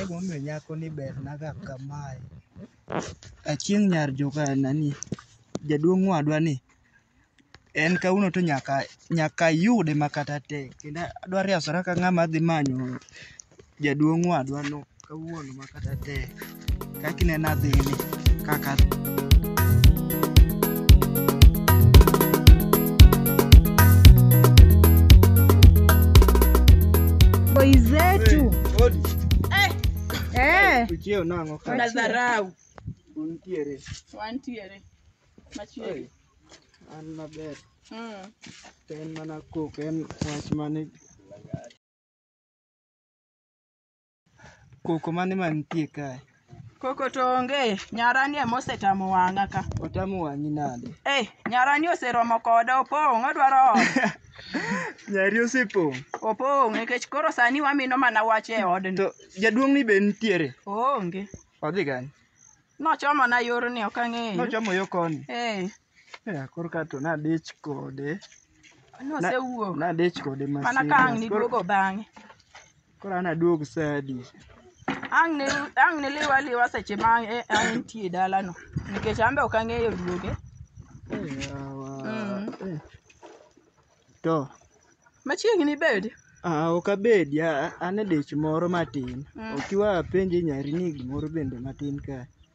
Emomiyo nyako ni bernaga kamae. Achieng' nyar joka nani, jaduong' wadwa ni en kawuono to nyaka nyaka ayude ma kata tek kendo adwa riasora ka ng'ama dhi manyo jaduong' wadwa no kawuono ma kata tek. kaka inena dhini kaka Boy zetu. Eh. Uchio nango ka. na dharau Untiere. wantiere machiegni An maber. Mm. To en mana kok en wach mane Koko mane mantie kae? Koko to onge, nyarani ema osetamo wang'a ka. Otamo wang'i nade? Eh, nyarani oseromo koda, opong', odwaro ode. Nyari osepong'. Opong' nikech koro sani wamino mana wach e odni. To jaduong'ni be nitiere? Oonge. Odhi kanye? Nochomona yorni, ok ang'eyo. Nochomo yo koni? Eh. Ya, koro ka to nadich kode. Nosewuok. Nadich kode ma Mana ka ang' serious. Koro- niduogo bang'e. Koro an aduog sadi. Ang' ni ang' ni liwa liwa seche ma ang' e- ang' nitie dalano. Nikech an be ok ang'eyo duoge. Eh, yawa. Mm. Eh. To, Machiegni bed. ah, ok abedi, a- an e dich moro matin. Mm. Ok iwa apenje nyari ni gimoro bende matin ka.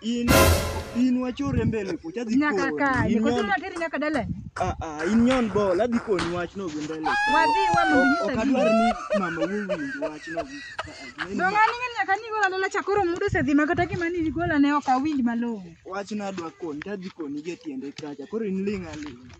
In in wacho rembe ni kucha dhi Nyaka koni. ka. In Niko nyon- tuna teri nyaka dala. ah ah in nyon bol adhi koni wach no gi mbele. Wadhi wa mondo Ok nyisa adwar gima. ni mama wuo winj wach no gi. ah, ah, neno Donga ni ng'ani nyaka ni gola lola chakoro mudo se dhi makata gima ni gola ne ok awinj malong'o. Wach nadwa koni tadhi koni gi e tiende kacha. Koro in ling' aling'.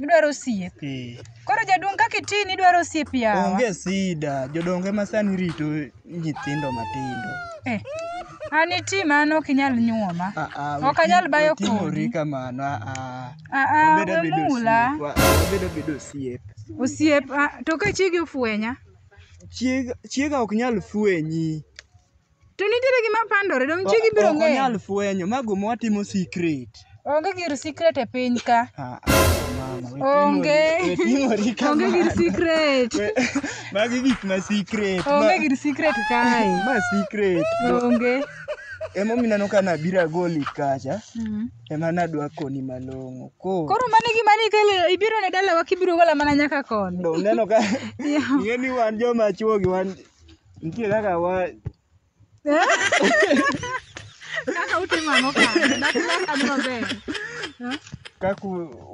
Gidwaro osiep. Eh. Koro jaduong' kaka itini idwaro osiep yawa. Onge sida, jodongo ema sani rito nyithindo matindo. Eh. An iti mano ok inyal nyuoma. Ah, ah, Ok anyal bayo kodi. Timori kamano. Ah, ah. Ah, ah, Wabedo we abedo mula. osiep. Wa- Wabedo abedo osiep. Osiep, ah, to ka chigi ofwenya. Chiega, chiega ok nyal fwenyi. To nitiere gima pandore, donge chiegi biro Ok ng'eyo? onyal fwenyo, ma guma watimo secret. Onge gir secret e piny ka. Ah, ah, mama, we Onge. timori- we timori Onge gir kamano. secret. We- Magi gik ma secret. Onge ma- gir secret kae. Ma secret. Onge. Emomiyo ineno ka nabiro agoli kacha, Mm. ema nadwa koni malong'o. Koro Koro mano e gima ni kele ibiro ne dalawa kibiro gola mana nyaka koni. donge uneno ka ing'e ni wan joma chwogi wan Nitie kaka wa Kaka utimo ang'o kanyo? Dak dak an maber. kaka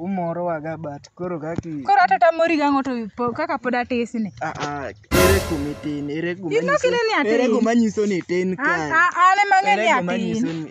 umorowaga but koro kaki Koro hata tamori gang'o to po- kaka pod atisni. Ah, ah, ere kuma itin ere kuma Ino kineno ni atin. ere kuma nyiso ni itin An kae an ema ng'e ni ere kuma atin. nyiso ni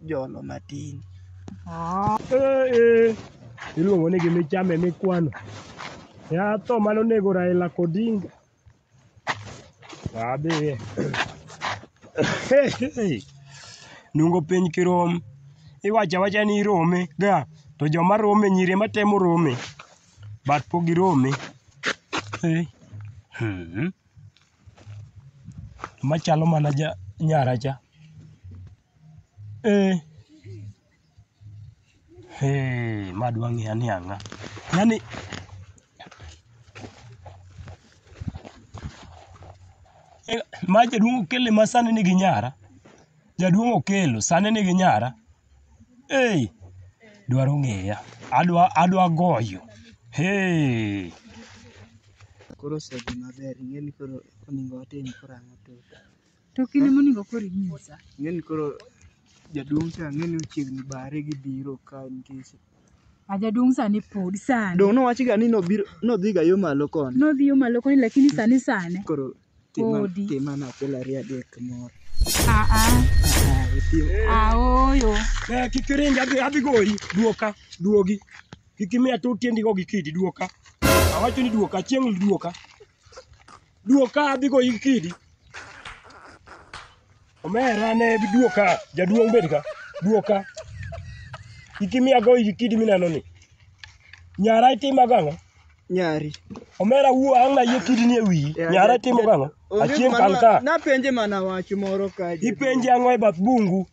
jolo matin. Iluongo ni gima ichame mikwano. Yath tho mane onego Raila Odinga. Wadhiye. Nungo piny kirom. Iwacho awacha ni irome ga to joma rome nyiri ema temo rome but pok girome. Eh. Hmm. machalo mana ja nyara cha ee hee ma dwa ng'eya ni ang'a yani ma jaduong' okele ma sani nigi nyara Jaduong' Okello sani nigi nyara. Hey, dwaro ng'eya. Adwa adwa goyo. Hey. koro osedhi maber ing'e ni koro onego watim koro ang'o to To kinde monego koro inyisa. ing'e ni koro jaduong' cha ang'e ni ochiegni bare gibiro ka nitie Ah, jaduong' sani pod sani. Dong' nowachi ga ni nobiro nodhi ga yo malo koni. Nodhi yo malo koni lakini sani sani. Koro tima Podi. tima na achiel ariyo adek moro. Ah ah. Ah, itim. Ah oyo. Eh, kik iring adhi adhi goyi duoka duogi kik imiya to tiendi go gi kidi duoka awacho ni duoka chieng' duoka Duok ka adhi go yik kidi. Omera ne duok ka jaduong' bed ka. Duok ka. Ikimiya go yik kidi mineno ni. Nyara itima gang'o? Nyari. Omera wuo ang' na yie kidi ni e wiyi. Yeah, Nyara that- itimo that- gang'o? Onge Achien mana- kan ka. Napenje mana wach moro ka. Ipenje ang'o e bath bungu?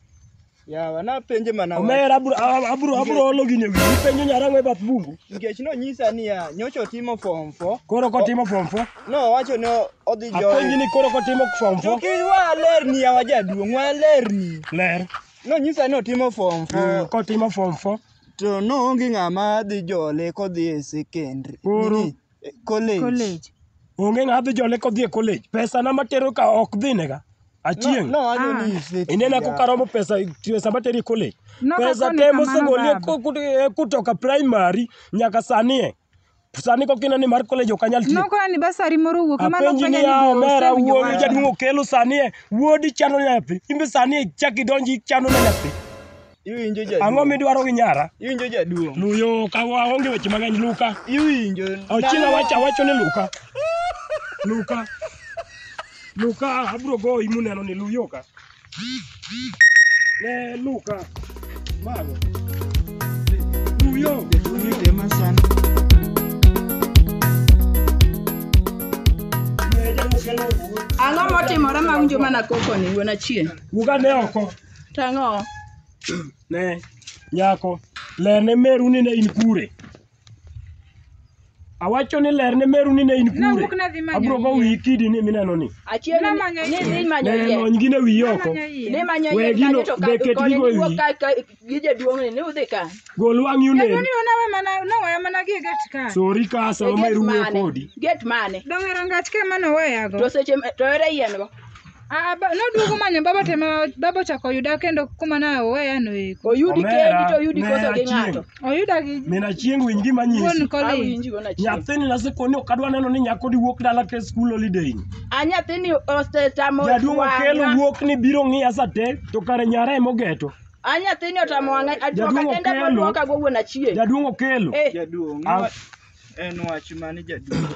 Yawa napenje mana wach. Omera abro a- abro abro olo gini e wiyi penjo nyarang'o e bath bungu. Nikech nonyisa niya, nyocha otimo form four. Koro kotimo form four. Nowacho ni odhi Apenji join. ni koro kotimo form four. Tuki walerni yawa jaduong', walerni. Ler. Nonyisa ni otimo form Mm, four. Kotimo form four. To noonge ng'ama dhi jole kodhi e secondary. Koro. Nini? college. college. Onge ng'a dhi jone kodhi e college. Pesa na matero ka ok dhi nega. Achieng'. No, no, I don't Ah. need fake Inena PR. kukaromo pesa pesa materi e college. No, pesa kakone te kamano mosegolie baba. ku- ku- eh, kutoka primary nyaka sani e. Sani kok ineno ni mar college ok anyal tiyo. Nokora ni basari moro owuok ema Apenji nofwenyo ni ni ya be omera osewinjo wuowi wach. jaduong' okelo sani e. Wuodi chano nyathi. Imbe sani e chak idonji ichano ne nyathi. Iwinjo jaduong'. Ang'o midwaro gi nyara? Iwinjo jaduong'. Luyo ka waonge weche mang'eny Luka. Iwinjo. Ochieng' awacho awacho ni Luka. Luka. Luka abro goyi muneno ni Luyo ka. Ne Luka. Mago. Luyo. Luyo. Ang'o motimore ma unjo mana koko ni wuon achien? Wuga ne oko. Tang'o. Ne, nyako, ler ne meru ni ne in kure. Awacho ni ler ne meru ni ne in kure. Nawuok nadhi manyo Abro go yie. wiyi kidi ni mineno ni. Achiel ni Namanyo ni yie. dhi manyo Ne yie. lony gi ne wiyi oko. Namanyo yie. Ni manyo We yie gino, kanyo to be ka ket koni gigo e niwuok wiyi. ka ka gi jaduong' ni ni udhi ka. Gol wang'i Jaduong' onen. ni onawe mana nowaya mana gie gate ka. Sori ka E sama gate meru wuoyo mane? kodi. Gate mane? Dong' e rangach ka ema noweyago. To seche ma- to ere yien go? Ah, ba- noduogo manyo baba to ema baba ochako oyuda kendo kuma ne oweya no eko Oyudi Omera, kendi to oyudi ne koso gi achien. ng'ato. oyuda gi Min achieng' winj gima nyisi. wuon Kolin Awinji go na chieng'. Nyathini naseko ni ok adwa neno ni nyako di wuok dala ke school holiday. A nyathini osetamo Jaduong' Okello wang'a. wuok ni biro ng'iya sa te to kare nyara ema ogeto. A nyathini otamo wang'a. Ajuoka Jaduong' kende Okello. moduoka go wuon achieng'. Jaduong' Okello. Eh. Jaduong'. Ah. En wach mane jaduong'?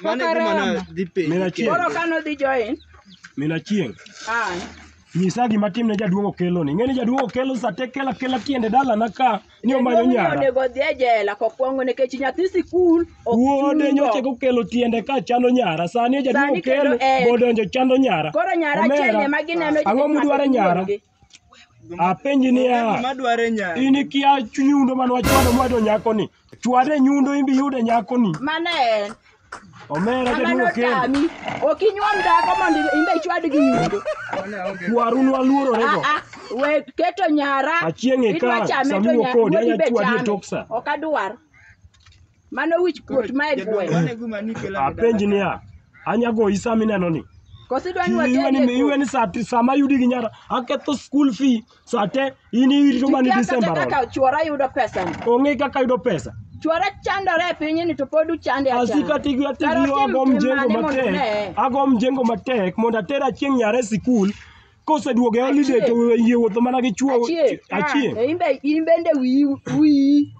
Mano e gima na dhi penjo. Mina chieng'. Koro ka nodhi join, Mina chieng'. ah, Nyisa gima tim ne jaduong' Okelo ni. Ing'e ni jaduong' Okelo sa te kela kela tiende dalana ka ni omanyo jaduong' ni nyara. onego odhi e jela kokwongo nikech nyathi sikul ok Wuode chulo. nyoche kokelo tiende ka chando nyara. Sani jaduong' Sani kendo Okelo en. bodonjo chando nyara. Koro nyara Omera, achiel ema gineno Ang'o mudwaro e nyara? Apenji niya, Gima dware nya. in ikia nyundo mane wachwado mwado nyakoni. Chwade nyundo in be iyude nyakoni. Mano en. Omera Mano jaduo kendo. otami. Ok inyuom dhako mondo imbe ichwad gi nyundo. Kwaru nwaluorore go. Ah, ah, we keto nyara. Achieng' e Idwa kar, chame to samiwo nya- kodi, wuodi anya be chwadi e chame. tok sa. Ok adwar. Mano wich kuot ma e gweng'. Apenj niya, anyagoyi sama ineno ni? Koso idwa ni Iwe ni watendi e iwe kuot. ni saa ti- sama yudi gi nyara aketho school fee saa te in irito mana ni Ikia December kata romo. kaka chuora yudo pesa ni. Onge kaka yudo pesa. Chuora chandore e piny ni to pod uchande Asika achanda. tigi atigi Kara otim ago tim mjengo mane mondo matek. uneye? Ago mjengo matek mondo atera chieng' nyara e sikul Koseduogo e holiday to we yie wuotho mana gi chuo Achie. achie. To in be- in bende wiyi wiyi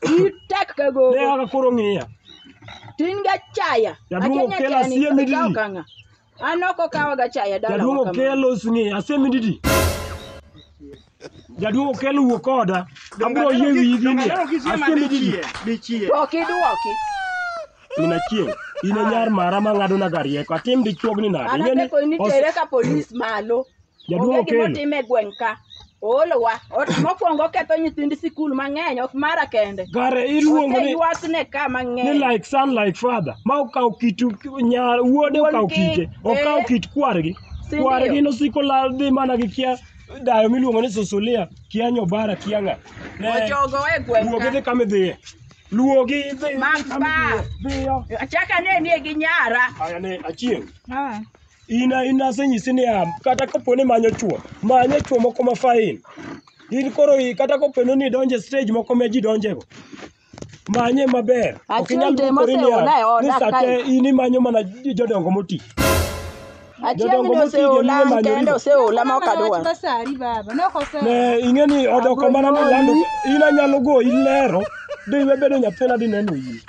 wiyi tek ka Ne gogo aka koro ng'iya. tin ga chaya Jaduong' Achie okelo nyachani, asie mididi. ikawo kang'a. an ok okawa ga chaya dala Jaduong' okelo sini asemididi. Jaduong' okel wuo koda. Abro yie wiyi gini. Asembe gigi. Dichie. Ok iduoki. Mina chieng'. In e nyar mara ma ng'ado na garieko. Atim dichuogni nade? An Ing'e ni akepo ni os- tere ka polis malo. Jaduong' Onge gima Okello. otime e gweng' ka. Oolowa. Ot- Mokwongo oketho nyithind sikul mang'eny ok mara kende. Gare iluongo ni Oseywakne ka ni mang'eny. like son like father ma okawo kit nyar wuode Wuon okawo kite. kite okawo Eh. kit kwargi Sindio. kwargi nosiko la dhi mana gi kia dayo miluongo ni susulia kia nyobara kia ng'a ne Ochogo e gweng' wuog ka. idhi kama idhiye luwogi idhi Mak kama ba. idhiye. dhiyo Achaka ne nie gi nyara. aya ne achieng' Ah. in in asenyisi ni am kata kapo ni manyo chuo manyo chuo moko ma fain in koro i- kata kapo ni idonje stage moko ma ji donjego manye maber ok Achiel inyal dwe dwokori niya moseona e oda ni sate kae. in imanyo mana jodongo moti Achiel Jodongo ni moti oseola joluo manyo kende riwo. oseola ma ok adwar. Basari baba, nokose. ne ing'e ni odoko mana ni lando in anyalo goyi lero de iwe bedo nyathina di neno yie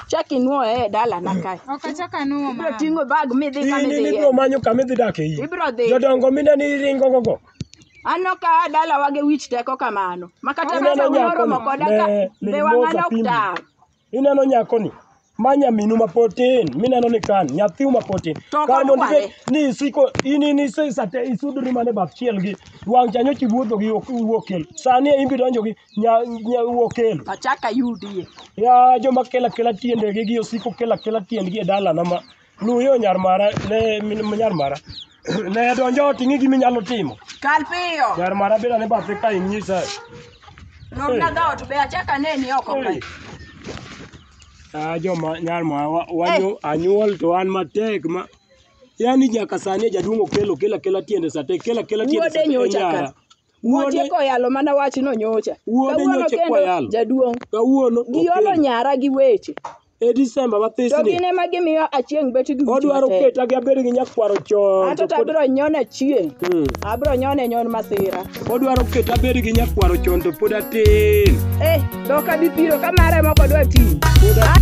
Chak inwoye e dalana kae. Ok achak anuwo Ibiro mama. ting'o bag midhi kama in in idhiye. ibiro manyo kama idhi dak e yie Ibiro dhi. jodongo mine ni iringo gogo Anno ka a dalawa gi wich teko kamano. Ma kata Aneno mesa nyako moromo ni, koda ka ne- ne be wang'a imosa pindi. noktar. Ineno nyakoni ma nyaminu ma pod tin mineno ni kan nyathiu ma pod tin To kar mondo kodware. ibed ni isiko in in isesate isudori mana e bath chiel gi wang' cha nyocha iwuotho gi ok iwuok kel sani e imbi donjo gi nya nya wuok kel Achaka yudie. ya joma kela kela tiendegi gi osiko kela kela tiendgi e dalana ma Luw yo nyar mara, ne min nyar mara. Ne donjo ot ing'i gima inyalo timo. Kal piyo. Nyar mara beda ne bathe ka inyisa. Romna ga ot be achaka neni oko ka. Ah joma nyar mara wa- wanyo anyuol to an matek ma yani nyaka sani jaduong' okelo kela kela tiende sate kela kela tiende Wuode sate nyocha ka. nyara. Wuode- Otieko yalo mana wachno nyocha. Wuode Kawuono nyocha kendo, kwayalo. Jaduong'. Kawuono Giolo okendo. nyara gi weche. E Disemba To mathisni. gin ema gimiyo achieng' bet duk Odwaro matek. keta gi abed gi nyakwaro chon. Ato to pod- tabiro nyon achieng'. Mm. Abiro nyone nyon masira. Odwaro keta abed gi nyakwaro chon to pod atin. Eh, dok abi piro ka mare moko dwa ti. Pod atin.